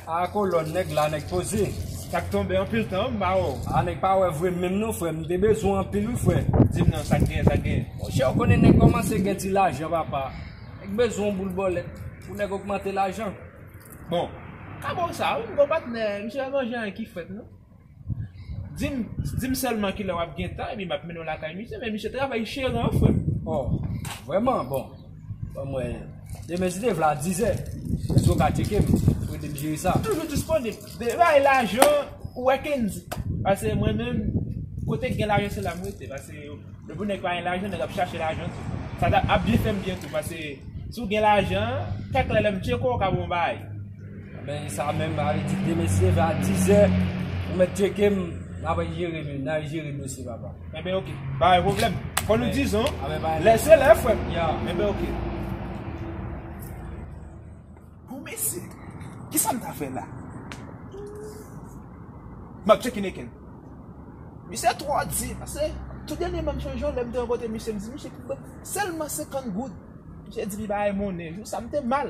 A kolòn nèg la nèg poze. Sak tonbe anpil tan wi m pa wè w. A nèg pa wè vre m menm non frè m te bezwen w anpil wi frè. Di m non sak gen sak gen. Monchè ou konnen nèg kòmanse gen ti lajan papa. Nèg bezwen yon boul bòlèt pou nèg ogmante lajan. Bon. Ka ba w sa wi m gen yon patnè misye pa gen anyen ki frèt non. Dim dim sèlman kilè wap gen tan epi map mennen w lakay misye men misye travay chere an frè m. Oh vrèman bon banm wè demen si te vle a 10 zè eskew ka tcheke m pou ede m jere sa. M toujou disponib de bay lajan ou wè Kendy pase mwen menm kote k gen lajan se la m rete pase depi nèg pa gen lajan nèg ap chache lajan tou sa ap byen fè m byen tou pase si w gen lajan kèk lè lè m tcheke w ka ba w yon bagay. Men sa menm ba li di mesye va 10 è ou mèt tcheke m na va jere m na jere m dosye papa. E ben ok, ba yon problem. Kon nou dizon, lè se lè fwem. Ya. E ben ok. Bon mesye, ki sa m ta fè la? M ap tcheke neken. Misye tro di, pase tout dènye man m sonje yon lè m te rankontre misye m di misye ki m ban selman 50 goud. Misye di li bay monnen, jou sa m te mal.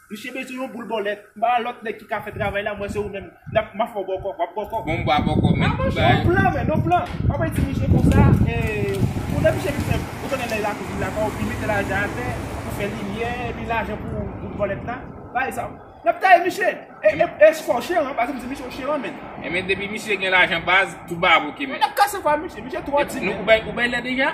Misye bezwen yon boul bòlèt. Ba lòt nèg ki ka fè travay la, mwen se ou menm. Nap, map fè w bòkò, wap bòkò. Bon m ba bòkò men pou bagay. Yon plan men, yon plan. Wap bay ti misye konsa, e, ou lè misye vin fè, ou konnen lè la kouvin la baw, li mete lajan atè, pou fè limyè, epi lajan pou boul bòlèt la, bay sa. Nap taye misye. E, e, e se fò w cheran, pase m di misye w cheran menn. E men depi misye gen lajan baz, tout bagay ap ok menn. Nap kase kwa misye, misye twò timid. Ou bay, ou bay lè deja?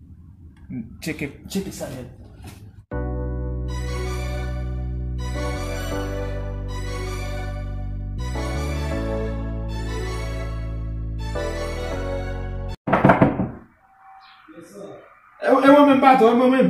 Tcheke sa nèt. E mwen menm patrón, e mwen menm.